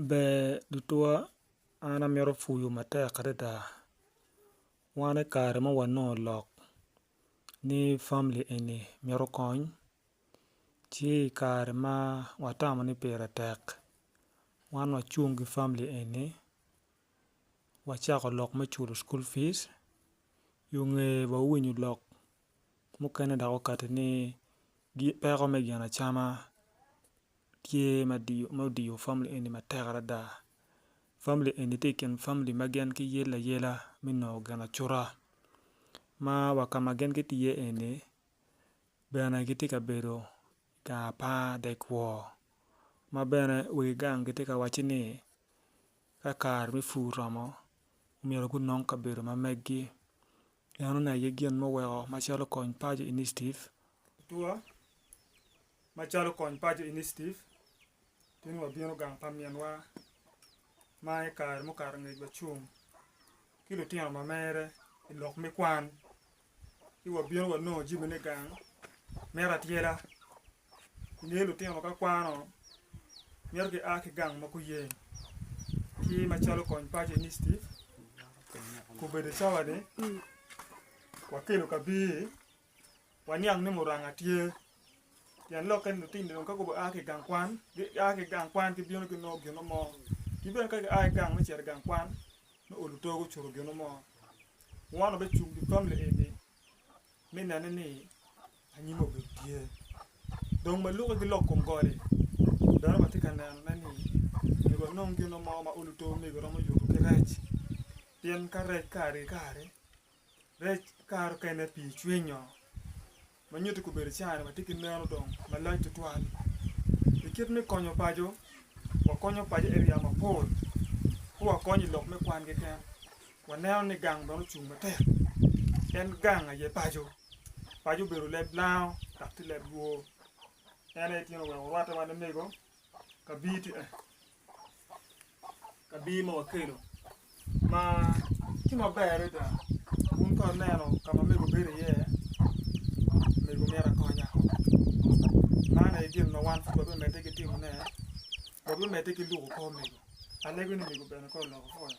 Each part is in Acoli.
Ber tutwa an amito puyu matek adada wan ikare ma wanongo lok ni famili eni mito kony ci ikare ma watamo ni pire tek wan wacung ki famili eni wacako lok me culo cukul pic i nge wa winyo lok Mukene dok okati ni peko me gin acama tye ma odiyo famili eni matek adada. Famili eni tye i kin famili ma gin giyelle ayela me nongo ginacuta ma wa ka ma gin gitye iye eni bene gitye ka bedo i gang apar dek wor ma bene wegi gang gitye ka wacci ni ka kare me pur oromo myero gunong kabedo ma meggi. Meno ne aye gin muweko Macalo Kony Paco Initiative. Atura, Macalo Kony Paco Initiative, tin wabino gang pa minwa ma i kare mukato ngec wacung ki lutino ma mere i lok me kwan, ci wabino wanongo jami me gang, mito atyela, Ongeyo lutino ka kwano mito ki a ki gang ma guyeng ki macalo Kony Paco Initiative obedo cawani wakelo kabir waniang ni muranga tye pien lokke ni lutini dong ka gua ki igang kwan gia ki igang kwan gibino ginongo gino mo ki bene ka gia ki igang me cito igang kwan me olo togo cuto gino mo wun obecungo pi famili eni me nene ni anyim obedo tye. Dong ma luki gilok kom gode, dono watye ka nenone ni myero wanong gin mo ma olo to omego romo yuto ki rec. Pien ka rec kare ki kare, rec kare okene pii cwinyo ma nyuto kobedo cawa-ni watye ki neno dong malac tutwal. I kit me konyo paco, wakonyo paco eriya mapol pe wakonyo i lok me kwan keken. Waneno ni gang bene ocung matek pien gang aye paco. Paco obedo leb lango dok tye leb lwo. En aye tyen oweko orwatte wa ni mego kabir tye eni, kabir ma wakelo ma tye maber adada. Wun ka wuneno ka ma mego bedo iye, mego myero akonya. Man aye gin ma wan pud wabimedde ki timone, wabimedde ki luko kor mego. Alego ni mego bene kong olok okoya.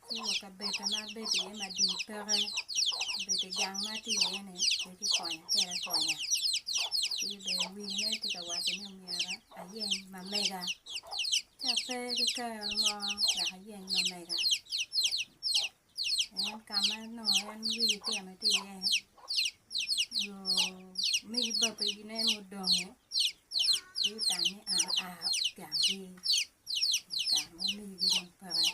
Ci wa kabedda ma abedo iye ma dii peke, obedo i gang ma atye iye-ni pe kikonya kede akonya. Ci bene wiine tye ka waco ni myero ayeny mamega. Ci ape ki kero mo wek ayeny mamega. En ka ma nongo en wiye ocito tye iye, jo omegi babene mudonge gutammi aa i ganggi i kare ma omegigi dong peke.